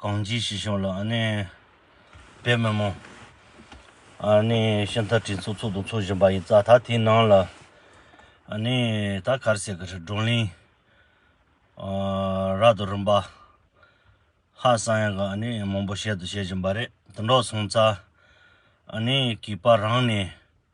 གང་ཅིའི་ཞི་ཞིང་ལ་ཨ་ནི། དཔལ་མི་མོ། ཨ་ནི་ཤིང་རྟ་དྲི་ཚུགས་ཚུགས་དང་ཚུགས་བཞིན་པ་ཡི་རྩ་ཐག་དེའི་ནང་ལ། ཨ་ནི་ད་གར་ཟེར་གི་རི་སྒྲུང་གླིང། རག་ཏུ་རིམ་པ། ཧ་སང་ཡང་གི་ཨ་ནི་མང་པོ་བཤད་དུ་བཤད་བཞིན་པ་རེད་དུ་འགྲོ་སོང་རྩ། ཨ་ནི་གིས་པ་རང་ནས།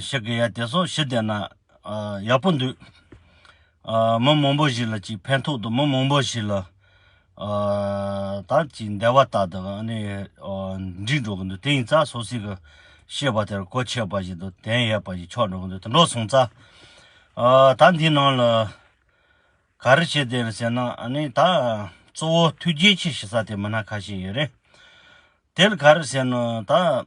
ཤི་གི་ཡ་དེ་སོགས་ཤི་བསྡད་ན་ཡག་པོ་འདུག། མི་མང་པོ་ཞིག་ལ་ཅིག་ཕན་ཐོག་ཏུ་མི་མང་པོ་ཞིག་ལ་ད་ཅིག་བདེ་བ་ལྟར་དུ་ཨ་ནི་འགྲིག་འགྲོ་གི་འདུག་དེ་ཡིན་ཙ་སོ་སི་གི་ཤེས་པ་དེར་གོ་ཆོད་པ་ཞིག་འདུག་དན་ཡས་པ་ཞིག་ཆོག་འགྲོ་གི་འདུག་དེ་འདྲོག་སོང་ཙ། ད་འདིའི་ནང་ལ་ག་རེ་བྱེད་བདེ་ཟེར་ན་ཨ་ནི་ད་གཙོ་བོ་མཐུ་རྒྱལ་ཆེ་ཞེ་ས་དེ་མི་སྣ་ཁ་ཤས་ཡོད་རེད། དེར་ག་རེ་ཟེར་ན་ད།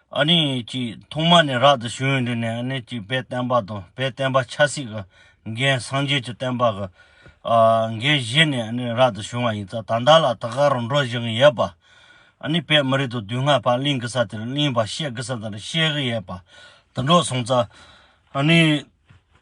ཨ་ནི་ཅིག་ཐོག་མ་ནས་རག་ཏུ་བྱོན་དེ་ནས་ཨ་ནི་ཅིག་དཔལ་བསྟན་པ་དང་དཔལ་བསྟན་པ་ཆབ་སྲིད་ཀྱི་འགན་སངས་རྒྱས་ཀྱི་བསྟན་པ་གི་འགན་བཞེས་ནས་ཨ་ནི་རག་ཏུ་བྱོན་བ་ཡིན་ཙང་ད་ལྟ་ལ་དགག་རུ་འགྲོ་བཞིན་ཡོད་པ། ཨ་ནི་དཔལ་མི་རིགས་དང་དུས་སྔ་བར་གླིང་གི་ས་དེར་གླིང་བ་བཤད་གི་ས་དེར་བཤད་གི་ཡོད་པ་དུད་འགྲོ་སོང་ཙང་ཨ་ནི་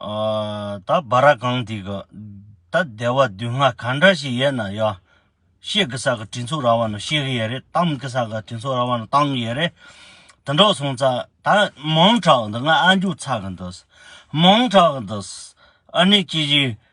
ད་བ་ར་གང་དེ་གི་ད་སྡེ་བ་བདུན་ལྔ་ག་འདྲ་ཞིག་ཡེད་ན་ཡ། ཤེས་གི་ས་གི་དྲིན་ཚོགས་ར་བ་ན་ཤེས་གི་ཡེད་རེད་གཏམ་གི་ས་གི་དྲིན་ཚོགས་ར་བ་ན་གཏང་གི་ཡེད་རེད། དེ་འདྲོག་སོང་ཙ་ད་མང་དྲག་འདི་ང་ཨ་མཇུག་ཚ་གི་འདུག་མང་དྲག་གི་འདུག་ཨ་ནི་ཅི་བཞིན་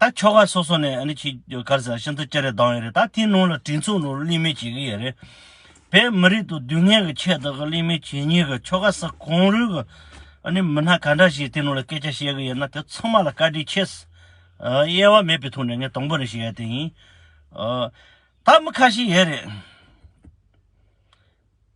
ད་ཁྱོ་ག་སོ་སོ་ནས་ཁྱི་དཀར་ཟེར་བ་ཤིན་ཏུ་སྐྱ་རེ་སྡང་བའི་རེད་ད་དེའི་ནང་ལ་དྲིན་ཚོང་ནོར་གླིང་མེད་བྱེད་གི་ཡོད་རེད། བས་མི་རིགས་དང་དུས་ངན་གི་ཆེད་དུ་གི་གླིང་མེད་བྱེད་ཉེས་གི་ཁྱོ་ག་སི་གོང་རུལ་གི་མི་སྣ་ག་འདྲ་ཞིག་དེ་ནང་ལ་སྐད་ཆ་བཤད་གི་ཡོད་ན་དེ་ཚང་མ་ལ་བཀའ་དྲིན་ཆེ། གཡེལ་བ་མེད་པའི་ཐོག་ནས་ངས་དང་པོ་ནས་བཤད་ཡ་དེ་ཡིན། ད་མི་ཁ་ཤས་ཡོད་རེད།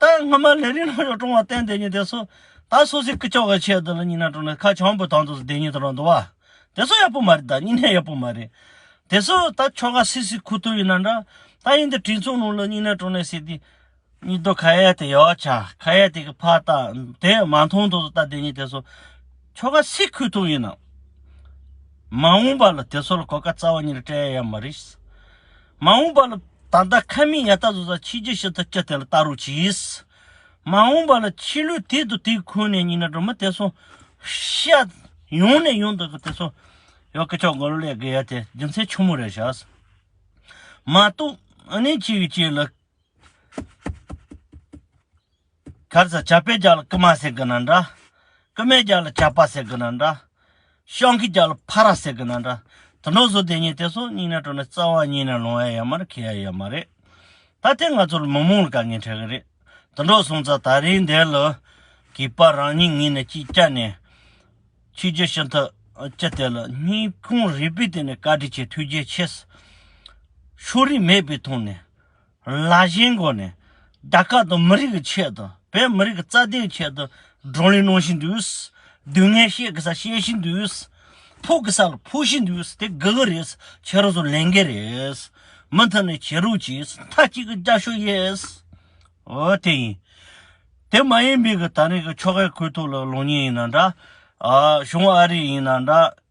ད་སྔ་མ་ལས་རིང་ལྷོ་ཕྱོགས་ཀྲོང་བ་བསྟན་དེ་ཉིད་དེ་སོ། ད་སོ་སི་ཀི་ཅོག་ག་ཆད་དུ་ལ་ཉིན་ན་ཀྲོང་ན་ཁ་བྱང་བུ་དང་དུ་སི་དེ་ཉིད་དུ་རང་དུ་བ། དེ་སོ་ཡག་པོ་མ་རེད་ད་ཉིན་ཧེ་ཡག་པོ་མ་རེད། དེ་སོ་ད་ཆོ་ག་སི་སི་ཁུ་ཐུ་ཡིན་ན་འདྲ། ད་ཡིན་དེ་དྲིན་ཚོང་ལུང་ལ་ཉིན་ན་ཀྲོང་ན་སི་དེ། ཉིད་དུ་ཁ་ཡའི་དེ་ཡོག་ཆ་ཁ་ཡའི་དེ་གི་ཕ་ད་དེ་མ་མཐོང་དུ་སོ་ད་དེ་ཉིད་དེ་སོ། ཆོ་ག་སི་ཁུ་ཐུ་ཡིན་ན། མ་འོང་པ་ལ་དེ་སོ་ལ་གོ་ཀ་རྩ་བ་ཉིད་ལ་སྤྲད་ཡ་ཡ་མ་རེད། མ་འོངས་པ་ལ། ད་ལྟ་ཁ་མིག་ཡར་ལྟ་ཟུར་ཟ་ཕྱི་རྒྱུ་ཕྱི་ལྟ་སྤྱི་དེ་ལ་ལྟ་རོགས་གྱིས། མ་འོངས་པ་ལ་ཕྱི་ལུས་དེད་དུ་དེད་ཁུལ་ནས་ཉིན་རེ་སྒྲོལ་མ་དེད་སོང། ཤ། ཡོང་ནས་ཡོང་དུ་དེད་སོང། ཡོ་སྐད་ཆོག་མགོ་ལོག་ལས་བརྒལ་ཡ་དེ་རྒྱུ་མཚན་ཆུང་མོ་རེད་བྱས། མ་གཏོགས། ཨ་ནེ་གཅིག་གིས་གཅིག་ལ། གར་ཟེར་བྱ་པའི་རྒྱ་ལ་ཀུ་མ་ཟེར་གི་ན་འདྲ། ཀུ་མའི་རྒྱ་ལ་བྱ་པ་ཟེར་གི་ན་འདྲ། ཤང་གི་རྒྱ་ལ་ཕ་ར་ཟེར་གི་ན་འདྲ། དུ་འགྲོ་བཟོ་དེ་གཉིས་དེ་སོགས་སྙིང་ནས་དྲོ་ནས་རྩ་བ་གཉིས་ནས་ལོང་ཡ་ཡ་མར་ཁེལ་ཡ་ཡ་མ་རེད། ད་དེ་ང་ཚོར་མི་མང་ལ་དཀའ་ངལ་འཕྲད་གི་རེད། དུ་འགྲོ་གསུང་ཙ་ད་རིང་འདས་ལ། གིས་པ་རང་ཉིད་ངེད་ནས་ཅིག་སྐྱ་ནས། ཆོས་རྒྱུད་ཤིན་ཏུ་སྤྱི་དེ་ལ་སྙིང་ཁུང་རིད་པའི་སྟེང་ནས་བཀའ་དྲིན་ཆེ་ཐུགས་རྗེ་ཆེ། ཤོ་རིགས་མེད་པའི་ཐོག་ནས། ལ་གཞན་སྒོ་ནས་དར་དཀར་དང་མི་རིགས་ཀྱི་ཆེད་དུ་བོད་མི་རིགས་ཀྱི་རྩ་དོན་ཆེད་དུ་བགྲོ་གླེང་གནང་བཞིན་འདུག་སྡུག་བསྔལ་བཤད་དགོས་ས་བཤད་བཞིན་འདུག་ཕུག་དགོས་ས་ལ་ཕུག་བཞིན་འདུག་དེ་དགོས་གི་རེད་ཁྱེད་རང་ཚོ་ལས་འགན་རེད་མུ་མཐུད་ནས་བྱེད་རོགས་གྱིས་མཐའ་གཅིག་གི་བརྒྱ་ཞོ་ཡེས་འོ་དེ་ཡིན་དེ་མ་ཡིན་མིག་གི་ད་རིང་གི་ཆོ་གའི་གོས་ཐུག་ལ་ལོང་ཉིན་ཡིན་ན་འདྲ་བྱུང་བ་ཨ་རི་ཡིན་ན་འདྲ།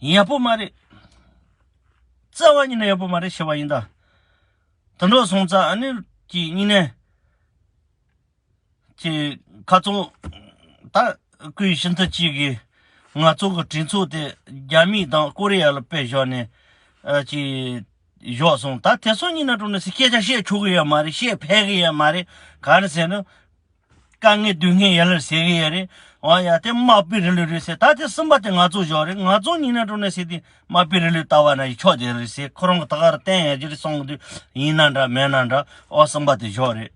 ཡག་པོ་མ་རེད། རྩ་བ་ཉིད་ནས་ཡག་པོ་མ་རེད་ཤེས་པ་ཡིན་ད། དུད་འགྲོ་སོང་ཙང་ཨ་ནེ་ཀྱི་སྙིང་ནད་ཀྱི་ཁ་རྩོད་ད་སྐུའི་ཤིན་ཏུ་གཅིག་གིས་ང་ཚོ་གི་དྲིན་ཚོགས་དེ་རྒྱ་མི་དང་ཀོ་རི་ཡ་ལ་དཔེ་བཞག་ནས་ཀྱི་བཞོག་སོང་ད་དེ་སོང་ཉིད་ན་དྲུང་ནས་སྐད་ཆ་བཤད་ཆོག་གི་ཡ་མ་རེད་བཤད་ཕད་གི་ཡ་མ་རེད་ག་རེ་ཟེར་ན། དཀའ་ངལ་སྡུག་བསྔལ་ཡ་ལར་ཟེར་གི་ཡ་རེད་འོ་ཡ་དེ་དམག་དཔེ་རི་ལུ་རེད་ཟེར་ད་དེ་སུན་པ་དེ་ང་ཚོ་བཞོག་རེད་ང་ཚོ་ཉིན་ན་དྲོ་ནས་ཟེར་དེ་དམག་དཔེ་རི་ལུ་ལྟ་བ་ན་ཡི་ཕྱོགས་དེ་རེད་ཟེར་ཁོ་རང་གི་ད་ག་རུ་བསྟན་ཡ་གྱི་རེད་སོང་གི་དུས་ཡིན་ན་འདྲ་མེད་ན་འདྲ་འོ་སུན་པ་དེ་བཞོག་རེད།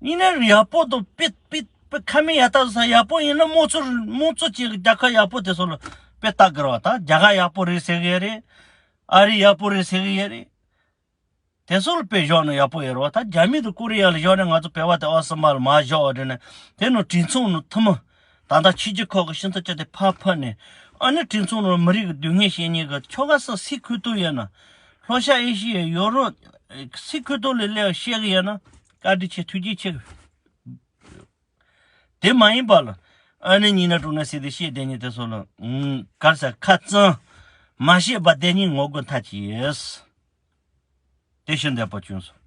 ཉིན་ན་རི་ཡ་པོ་དང་དཔེ་དཔེ་དཔེ་ཁ་མི་ཡ་ལྟ་བཟོ་ས་ཡ་པོ་ཡིན་ན་དམངས་གཙོ་དམངས་གཙོ་ཅན་གྱི་རྒྱ་ཁ་ཡ་པོ་དེ་ཚོ་ལ་དཔེ་ལྟ་དགོས་རོགས་ད་རྒྱ་ག་ཡ་པོ་རེད་ཟེར་གི་ཡ་རེད་ཨ་རི་ཡ་པོ་རེད་ཟེར་གི་ཡ་རེད་དེ་ཚོ་ལ་བེ་ཞོག་ན་ཡག་པོ་ཡོད་རོ་ད་རྒྱ་མི་དང་ཀོ་རི་ཡ་ལ་ཞོག་ན་ང་ཚོ་བེ་བ་དེ་ཨོ་སི་མ་ལ་མ་ཞོག་རེད་ན་དེ་ནོ་དྲིན་མཚུངས་ནོ་ཐུ་མོ་ད་ལྟ་ཕྱི་རྒྱ་ཁོག་གི་ཤིང་ཚ་ཅ་དེ་ཕར་ཕར་ནས་ཨ་ནི་དྲིན་མཚུངས་ནོ་མི་རིགས་ཀྱི་དུས་ངན་ཤེས་ཉེས་གི་ཁྱོ་ག་སི་སི་ཁུལ་དུ་ཡོད་ན་ལྷོ་ཤ་ཨེ་ཤི་ཡའི་ཡོ་རོ་སི་ཁུལ་དུ་ལས་ལས་ཤེས་གི་ཡོད་ན་བཀའ་དྲིན་ཆེ་ཐུགས་རྗེ་ཆེ། དེ་མ་ཡིན་པ་ལ། ཨ་ནི་གཉིས་ན་དྲུག་ན་སྲིད་དེ་ཤེས་བདེན་གཉིས་དེ་སོགས་ལ། གར་ས་ཁ་ཙང། མ་ཤེས་པ་བདེན་གཉིས་ངོ་རྒོལ་མཐའ་གྱིས། དེ་ཤི་འདས་པོ་ཅུང་ཟད།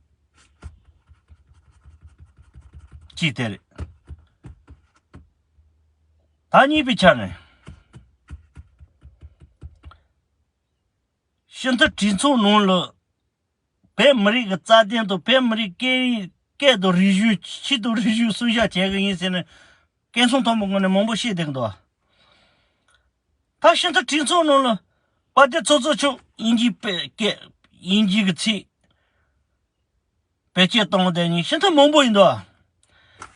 གཅིག་དེ་རེད། ད་གཉིས་པའི་ཆ་ནས། ཤིན་ཏུ་དྲིན་མཚུངས་ལུང་ལ། བོད་མི་རིགས་ཀྱི་རྩ་དོན་དང་བོད་མི་རིགས་སྐད་ཡིག་སྐད་དང་རིག་གཞུང་ཆེད་དུ་རིག་གཞུང་སྲུང་བཞག་བྱེད་ཀྱི་ཡིན་ཟེར་ནས་སྐད་གསུང་མཐོན་པོ་ངོས་ནས་མང་པོ་བཤད་བསྡད་འདུག་ད་ཤིན་ཏུ་དྲིན་ཚོགས་ནང་ལ་དཔའ་སྡེ་ཚོགས་གཙོ་མཆོག་དབྱིན་ཇིའི་པེ་སྐད་དབྱིན་ཇིའི་གི་ཚིག་བེད་སྤྱད་གཏོང་བསྡད་ཉིན་ཤིན་ཏུ་མང་པོ་ཡིན་འདུག།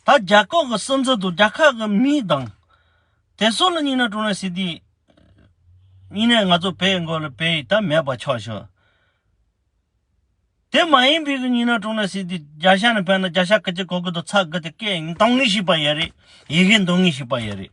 ད་རྒྱ་ཁོག་གི་སིམ་འཛུལ་དུ་རྒྱ་ཁག་གི་མི་དང། དེ་སོགས་ལ་གཉིས་ན་ཀྲུང་ནན་སི་ཏི། གཉིས་ནས་ང་ཚོ་བལ་འགོ་ལ་བལ་ཡིག་ད་མེད་པ་ཆོག་ཤོག། དེ་མ་ཡིན་པའི་གི་གཉིས་ན་ཀྲུང་ནན་སི་ཏི་རྒྱ་ཤ་ནས་བལ་ན་རྒྱ་ཤ་ཀི་ཅི་གོ་གི་དུ་ཚ་གི་དེ་སྐད་འདང་ངེས་ཤིག་པ་ཡེ་རེད་ཡི་གེ་འདང་ངེས་ཤིག་པ་ཡེ་རེད།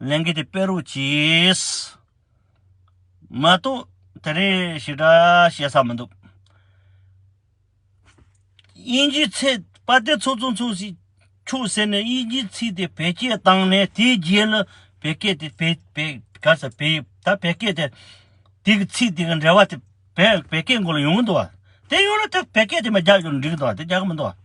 ལན་གྱི་དེ་དཔེ་རུ་གྱིས། མ་གཏོགས་དེ་རིང་ཞེ་དྲག་བཤད་ས་མི་འདུག། དབྱིན་ཇིའི་ཚེ་དཔའ་སྡེ་ཚོགས་གཙོ་ཚོ་ཞིག་ཆུགས་ཟེར་ནས་དབྱིན་ཇིའི་ཚིག་དེ་བེད་སྤྱད་བཏང་ནས་དེའི་རྗེས་ལ་བེད་སྐད་དེ་བེད་བེད་ག་ས་བེད་ད་བེད་སྐད་དེ་དེ་གི་ཚིག་དེ་གི་འབྲེལ་བ་དེ་བེད་བེད་སྐད་མགོ་ལ་ཡོང་གི་འདུག་བ། དེ་ཡོང་ན་དེ་བེད་སྐད་དེ་མ་རྒྱག་རྒྱུ་འགྲིག་གི་འདུག་བ་དེ་རྒྱག་གི་མི་འདུག་བ།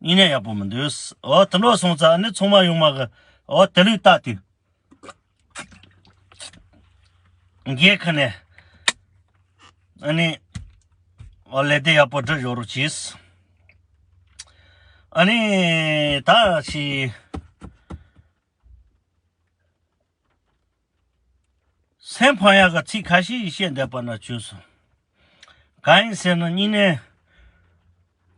གཉིས་ནས་ཡག་པོ་མི་འདུག་ཨོ་དེ་འདྲ་སོང་ཙང་ནི་ཚོང་མ་ཡོང་མ་གི་ཨོ་དེ་ལུགས་ལྟ་དུས། རྒྱའི་ཁུལ་ནས་ཨ་ནི་ཨོ་ལས་དེ་ཡག་པོ་སྒྲིག་ཞོར་གྱིས། ཨ་ནི་ད་ཕྱིས། སེམས་འཕང་ཡག་ག་ཚིག་ག་ཤེད་ཡིས་བཤད་འདེབས་པ་ན་བྱོས་སོང། ག་ཡིན་ཟེར་ན་སྙིང་ནས།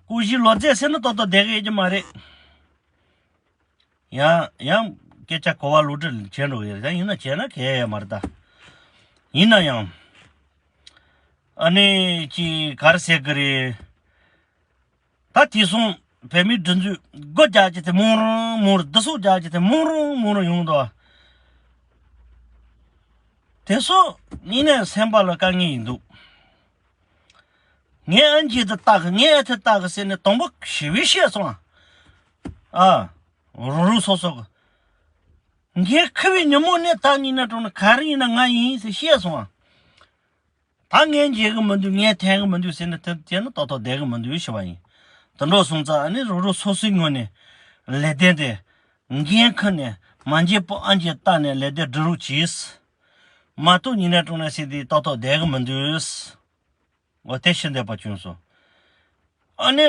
སྐུ་བཞི་ལོ་རྫས་སེར་སྣ་ཏོག་ཏོག་བསྡད་གི་ཡོད་ཀྱི་མ་རེད། ཡང་ཡང་སྐད་ཆ་གོ་བ་ལུག་འདྲ་བྱས་འགྲོ་གི་རེད་ད་ཡིན་ན་བྱས་ན་གལ་ཡས་མ་རེད་ད། ཡིན་ན་ཡང། ཨ་ནེ་ཀྱིས་ག་རེ་ཟེར་གི་རེད། ད་དེ་སོང་བོད་མིའི་སྒྲིག་འཛུགས་སྒོ་རྒྱག་རྒྱུ་དེ་མང་རུང་མང་རུང་བསྡུ་གསོག་རྒྱག་རྒྱུ་དེ་མང་རུང་མང་རུང་ཡོང་དོ། དེ་སོགས་གཉིས་ནས་སེམས་པ་ལ་དཀའ་ངལ་ཡིན་འདུག། ངས་ཨ་མཆིས་འདི་ལྟ་གི་ངས་ཨ་དེ་ལྟ་གི་ཟེར་ནས་དང་པོ་ཞི་བའི་བཤད་སོང། ཨ། རང་རང་སོ་སོ་གི། ངས་ཁུ་བའི་ཉིན་མོ་ནས་ད་ཉིན་ནས་དྲུག་ནས་ག་རེ་ཡིན་ན་ང་ཡིན་ཟེར་བཤད་སོང། ད་ངས་འཇལ་གི་མི་འདུག་ངས་འཐེན་གི་མི་འདུག་ཟེར་ནས་དེ་ནི་ཏོག་ཏོག་བསྡད་གི་མི་འདུག་ཞེས་པ་ཡིན། དུད་འགྲོ་སོང་ཙང་ཨ་ནི་རུ་རུ་སོ་སོའི་ངོས་ནས་ལས་དེ་དེ་འགན་ཁུར་ནས་མ་འཇལ་པོ་ཨ་འཇལ་བཏགས་ནས་ལས་དེ་སྒྲུབ་རུག་གྱིས། མ་གཏོགས་ཉིན་རེ་ཀྲོང་ནས་སྲིད་དེ་ཏོག་ཏོག་བསྡད་གི་མི་འདུག། འོ་དེ་ཤི་འདས་པ་བྱུང་སོང། ཨ་ནི།